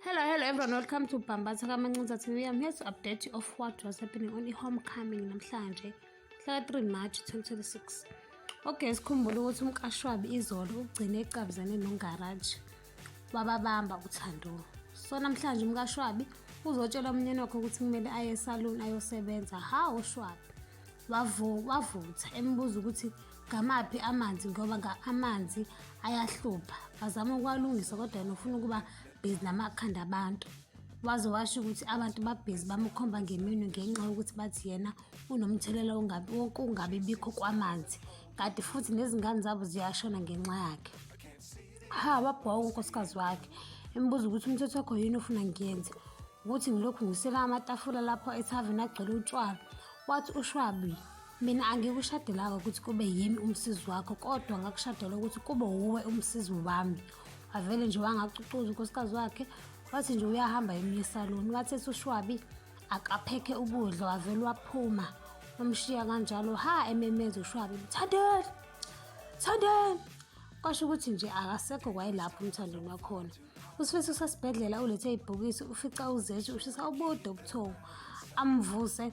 Hello, hello everyone. Welcome to Bambatha Kamancinza TV. I'm here to update you of what was happening on i-homecoming namhlanje, mhla 3 March 2026. Okay, sikhumbule ukuthi umkashwabi izolo ugcine ecabuzane nongaraji wababamba uthando. So namhlanje umkashwabi uzotshela umnyeni wakhe ukuthi kumele aye esaluni ayosebenza. Hawu shwabi. Wavu wavutha embuza ukuthi ngamaphi amanzi ngoba nga amanzi ayahlupha bazama ukwalungisa kodwa yena ufuna ukuba bhizi namakhanda abantu waze washo ukuthi abantu babhizi bamukhomba ngeminwe ngenxa yokuthi bathi yena unomthelela wokungabi bikho kwamanzi kanti futhi nezingane zabo ziyashona ngenxa yakhe ha wabhoka unkosikazi wakhe embuza ukuthi umthetho wakho yini ofuna ngiyenze ukuthi ngilokhu ngisela amatafula lapho ethaveni agcwele utshwala wathi ushwabi mina angikushadelanga ukuthi kube yimi umsizi wakho kodwa ngakushadela ukuthi kube wuwe umsizi wami wavele nje wangacucuza unkosikazi wakhe wathi nje uyahamba eminye esaloni wathi ethi ushwabi akaphekhe ukudla wavele waphuma wamshiya kanjalo ha ememeza ushwabi mthandeni mthandeni kwasho ukuthi nje akasekho kwayelapho umthandeni wakhona usifisa usesibhedlela ulethe ibhokisi ufica uzethi ushisa ubude ubuthongo amvuse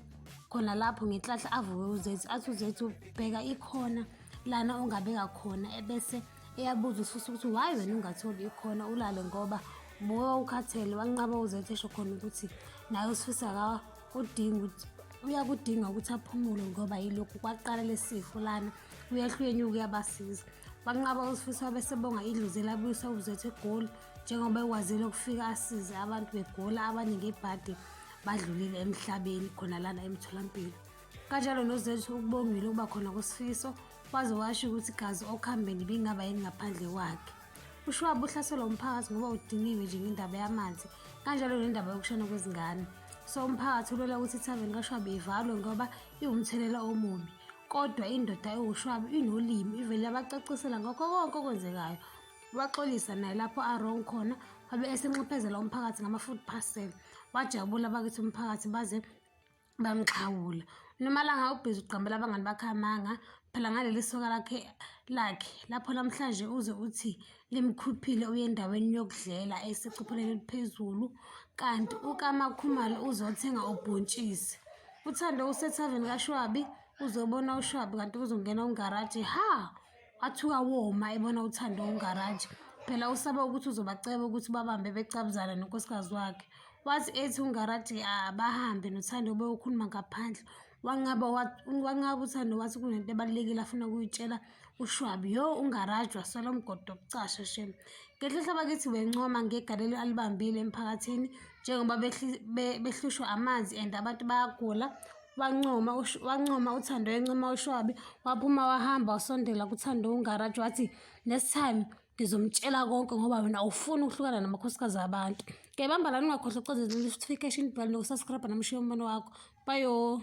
khona lapho ngenhlahla avuke uzethi athi uzethi ubheka ikhona lana ongabeka khona ebese eyabuza usifisa ukuthi why wena ungatholi ikhona ulale ngoba buka ukhathele wanqaba uzethi esho khona ukuthi naye usifisa kudinga ukuthi uyakudinga ukuthi aphumule ngoba yilokhu kwaqala lesifo lana uyahlwenyuka uyabasiza banqaba usifiso abesebonga idlozi elabuyisa ubuzethu egoli njengoba ekwazile ukufika asize abantu begola abaningi ebhadi badlulile emhlabeni khona lana emtholampilo kanjalo nozethu ukubongile ukuba khona kwesifiso waze washo ukuthi gazi okuhambeni bingaba yini ngaphandle kwakhe ushwaba uhlaselwa umphakathi ngoba udiniwe nje ngendaba yamanzi kanjalo nendaba yokushona kwezingane so umphakathi ulwela ukuthi ithaveni kashwaba ivalwe ngoba iwumthelela omubi kodwa indoda ewushwaba inolimi ivele yabacacisela ngakho konke okwenzekayo waxolisa naye lapho arong khona wabe esenxephezela umphakathi ngama-food parcel wajabula bakithi umphakathi baze bamxhawula unomalanga ubhizi ugqambela abangani bakhe amanga phela ngaleli soka lakhe lakhe lapho namhlanje uze uthi limkhuphile uye endaweni yokudlela esecopheleni eliphezulu kanti ukamakhumalo uzothenga ubhontshisi uthando usethaveni kashwabi uzobona ushwabi kanti kuzongena ungaraji ha Wathuka woma ebona uThando ungaraji. Phela usaba ukuthi uzobaceba ukuthi babambe becabuzana nonkosikazi wakhe. Wathi ethi ungaraji abahambe noThando beyokhuluma ngaphandle. Wanqaba wanqaba uThando wathi kunento ebalulekile afuna ukuyitshela uShwabi. Yo ungaraji wasola umgodo wokucasha shem. Ngenhlanhla bakithi wencoma ngegalelo alibambile emphakathini. njengoba behlushwa amanzi and abantu bayagula wancoma wancoma uthando encoma ushwabi waphuma wahamba wasondela kuthando ungaraji wathi next time ngizomtshela konke ngoba wena awufuni ukuhlukana namakhosikazi abantu ke bambala ningakhohlwa ucozela notification bell nokusubscribe namushiya umbono wakho bayo